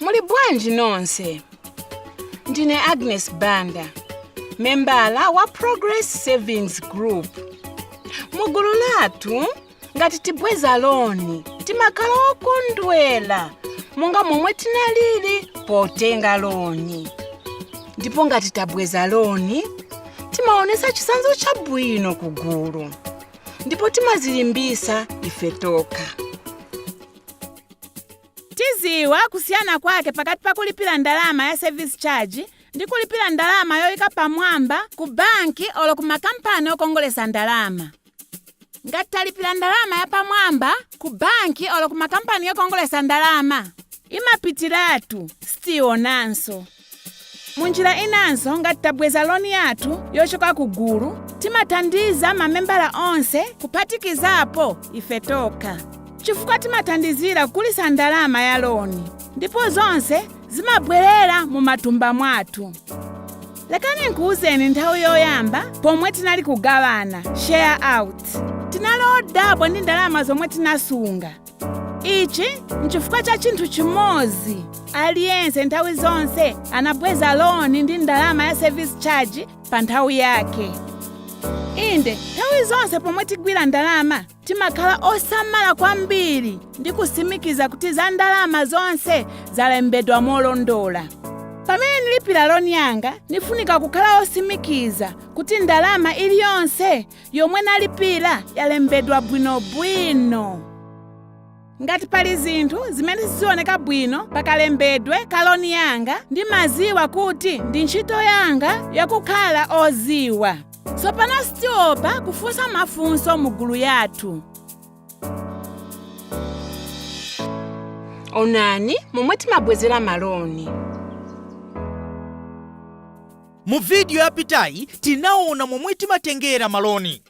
Muli bwanji nonse? Ndine Agnes Banda, membala wa Progress Savings Group. Mu gulu lathu, ngati tibweza loni, timakhala okondwela monga momwe tinalili potenga loni. Ndipo ngati tabweza loni, timaonesa chitsanzo chabwino ku gulu ndipo timazilimbisa ife tokha. tiziwa kusiyana kwake pakati pa kulipira ndalama ya service charge ndi kulipira ndalama yoyika pamwamba ku banki olo ku makampani okongolesa ndalama ngati talipira ndalama ya pamwamba ku banki olo ku makampani okongolesa ndalama imapitiratu sitionanso munjira inanso ngati tabweza loni yathu yochoka ku gulu timathandiza mamembala onse kuphatikizapo ife tokha chifukwa timathandizira kukulisa ndalama ya loni ndipo zonse zimabwerera mu matumba mwathu lekani nkuwuzeni nthawi yoyamba pomwe tinali kugawana share out tinali odabwa ndi ndalama zomwe tinasunga ichi nchifukwa cha chinthu chimodzi aliyense nthawi zonse anabweza loni ndi ndalama ya service charge pa nthawi yake inde nthawi zonse pomwe tigwira ndalama timakhala osamala kwambiri ndi kusimikiza kuti za ndalama zonse zalembedwa molondola pamene ndilipira loni yanga ndifunika kukhala osimikiza kuti ndalama iliyonse yomwe nalipira yalembedwa bwinobwino ngati pali zinthu zimene sizioneka bwino pakalembedwe ka loni yanga ndimaziwa kuti ndi ntchito yanga yakukhala oziwa tsopano sitiopa kufunsa mafunso mu gulu yathu onani momwe timabwezera maloni Mu vidiyo yapitayi tinaona momwe timatengera maloni.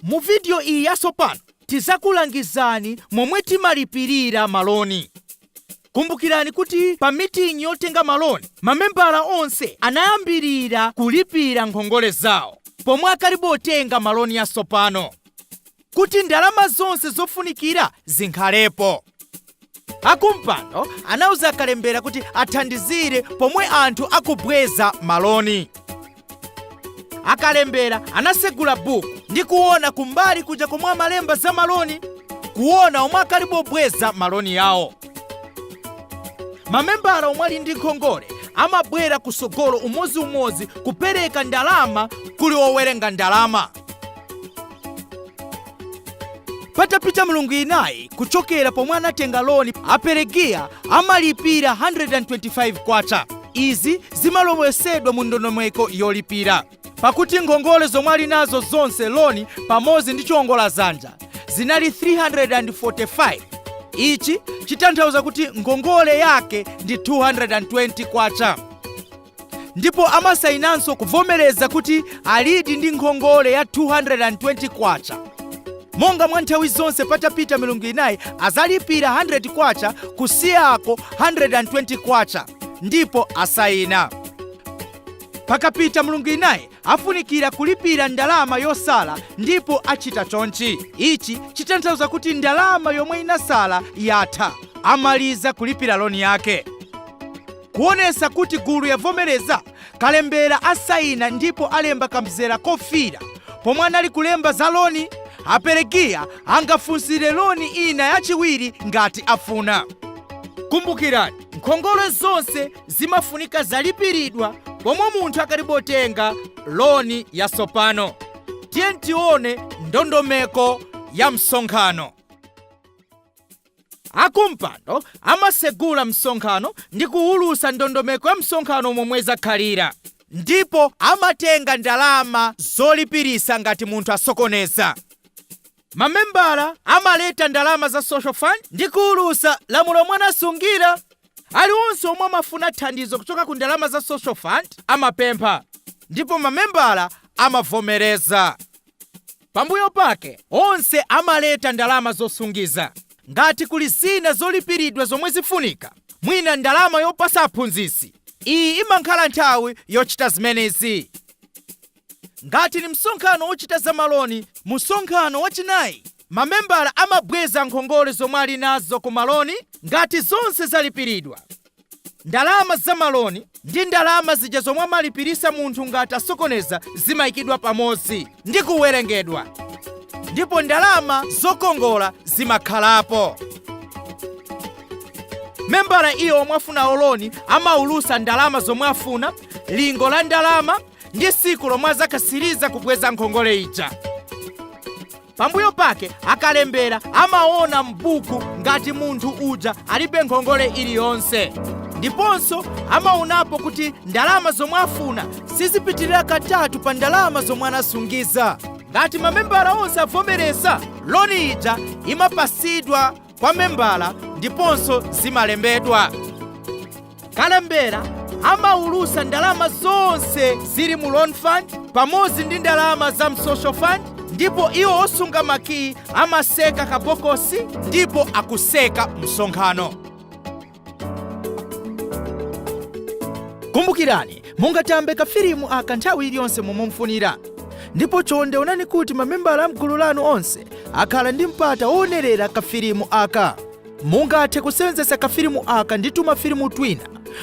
Mu vidiyo iyi yatsopano tidzakulangizani momwe timalipirira maloni. Kumbukirani kuti pa miting'i yotenga maloni, mamembala onse anayambirira kulipira nkhongole zawo pomwe akalibe kutenga maloni atsopano. kuti ndalama zonse zofunikira zikhalepo. Akumpando anauza akalembera kuti athandizire pomwe anthu akubweza maloni. Akalembera anasegula buku ndi kuona kumbali kuja komwe amalemba za maloni kuona omwe akalibe kubweza maloni yawo. Mamembala omwe ali ndi nkhongole amabwera kusogolo umodziumodzi kupereka ndalama kuli owerenga ndalama. patapita milungu inayi kuchokera pomwe anatenga loni aperegiya amalipira 125 kwacha izi zimalowetsedwa mu ndondomeko yolipira pakuti ngongole zomwe ali nazo zonse loni pamodzi ndi chiwongola dzanja zinali 345 ichi chitanthauza kuti ngongole yake ndi 220 kwacha ndipo amasayinanso kuvomereza kuti alidi ndi nkhongole ya 220 kwacha monga mwa nthawi zonse patapita milungu inayi azalipira 100 kwacha kusiyako 120 kwacha ndipo asayina pakapita milungu inayi afunikira kulipira ndalama yosala ndipo achita chonchi ichi chitanthauza kuti ndalama yomwe inasala yatha amaliza kulipira loni yake Kuonesa kuti gulu yavomeleza, kalembela asaina ndipo alemba kamzela kofiira pomwe anali kulemba za loni. A Pelegiya angafunsile loni ina yachiwiri ngati afuna. Kumbukirani, nkhongole zonse zimafunika zalipiridwa pomwe munthu akalibe kutenga loni yasopano. Tiyeni tione ndondomeko ya msonkhano. Akumpando amasegula msonkhano ndi kuwulusa ndondomeko ya msonkhano momwe zakhalira ndipo amatenga ndalama zolipirisa ngati munthu asokoneza. Mamembala amaleta ndalama za Social Fund ndi kuwulusa lamulo lomwe anasungira. Aliwonse omwe amafuna thandizo kuchoka ku ndalama za Social Fund amapempha ndipo mamembala amavomereza. Pambuyo pake onse amaleta ndalama zosungiza. Ngati kuli zina zolipiridwa zomwe zifunika, mwina ndalama yopasa aphunzitsi, iyi imankhala nthawi yochita zimenezi. Ngati ni msonkhano wochita za maloni, mu msonkhano wachinayi mamembala amabweza nkhongole zomwe ali nazo ku maloni ngati zonse zalipiridwa. Ndalama za maloni ndi ndalama zija zomwe amalipirisa munthu ngati asokoneza zimayikidwa pamodzi ndi kuwerengedwa ndipo ndalama zokongola zimakhalapo. Membala iye omwe afuna loni amaulusa ndalama zomwe afuna, lingo la ndalama ndi siku lomwe azakasiriza kubweza nkhongole ija. pambuyo pake akalembera amaona m'buku ngati munthu uja alibe nkhongole iliyonse ndiponso amaonapo kuti ndalama zomwe afuna sizipitirira katatu pa ndalama zomwe anasungiza ngati mamembala onse avomereza loni ija imapasidwa kwa membala ndiponso zimalembedwa kalembera amaulutsa ndalama zonse zili mu loan fund pamodzi ndi ndalama za msocial fund ndipo iwo osunga makiyi amatseka kabokosi ndipo akutseka msonkhano kumbukirani mungathambe kafilimu aka nthawi iliyonse momwe mufunira ndipo chonde onani kuti mamembala a mgulu lanu onse akhala ndi mpata woonerera kafilimu aka mungathe kusenzetsa kafilimu aka ndi tumafilimu twina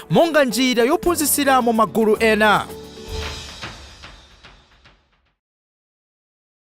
monga njira yophunzitsiramo magulu ena